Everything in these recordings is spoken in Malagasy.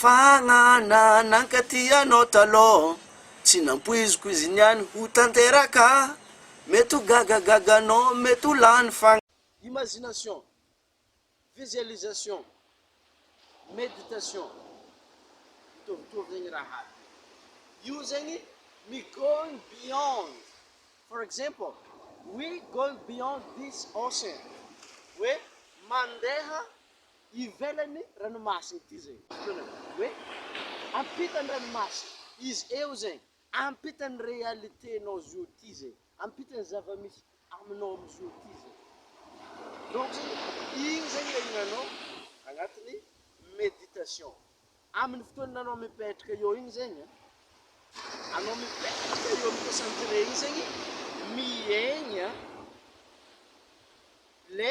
Fanana nankaty anao taloha Tsy nampoiziko izy niany ho tanteraka Mety ho gagagaga anao mety ho lany fa. Imagination, visualisation, meditation, mitovitovy zegny raha aby io zegny ny going beyond for example we going beyond this ocean hoe mandeha ivelan'ny ranomasina ity zegny, fotoanany hoe ampitan'ny ranomasina, izy eo zegny, ampitan'ny réalité-nao zio ty zegny, ampitan'ny zava-misy aminao amizio ty zegny, donc zegny igny zegny le ihinanao agnatin'ny méditation, amin'ny fotoana anao mipetraka eo igny zegny an, anao mipetraka eo amin'ny concentré igny zegny miaigna le.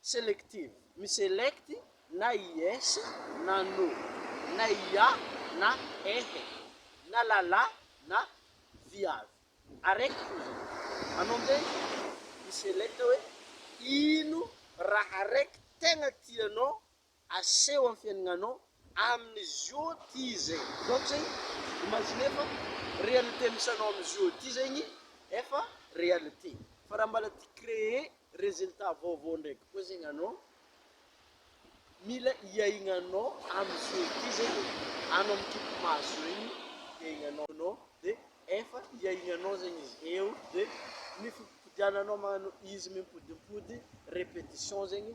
Selective, mi-select na i yes na no, na ia na ehe, na lala na viavy. Araiky koa zany. Anao amin'izay mi-select hoe ino raha araiky tegna tianao Aseho amin'ny fiainanao amin'izy io ty izay. Ohatra izay, imaginer fa réalité misy anao amin'izy io ty zegny efa réalité. Fa raha mbala te créer résultat vaovao ndraiky koa zegny anao, mila hiaignanao amin'izy io ty zegny, anao mikipy maso regny, hiaignanao anao dia efa hiaignanao zegny izy. Eo dia ny fipodipodiananao magnano izy mimpodimpody, répétition zegny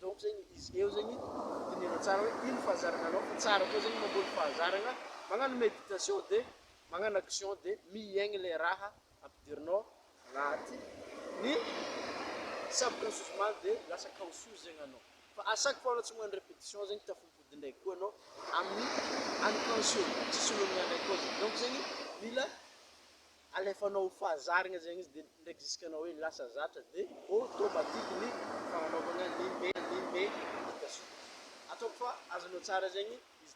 Donc zegny izy eo zegny dinihana tsara hoe ino fahazarana anao fa tsara koa zegny mamboly fahazarana, magnano meditation de magnano action de mihaigny le raha ampidirinao agnaty ny subconscious mal de lasa conscious zegny anao fa à chaque fois anao tsy magnano repetition zegny tafampody ndraiky koa anao amin'ny unconscious, tsisy olana ndraiky koa zegny donc zegny mila alefanao ho fahazarana zegny izy de ndraiky jusque anao hoe lasa zatra de automatique ny fagnanaovana limbe limbe vita soa ataoko fa azonao tsara zegny izy.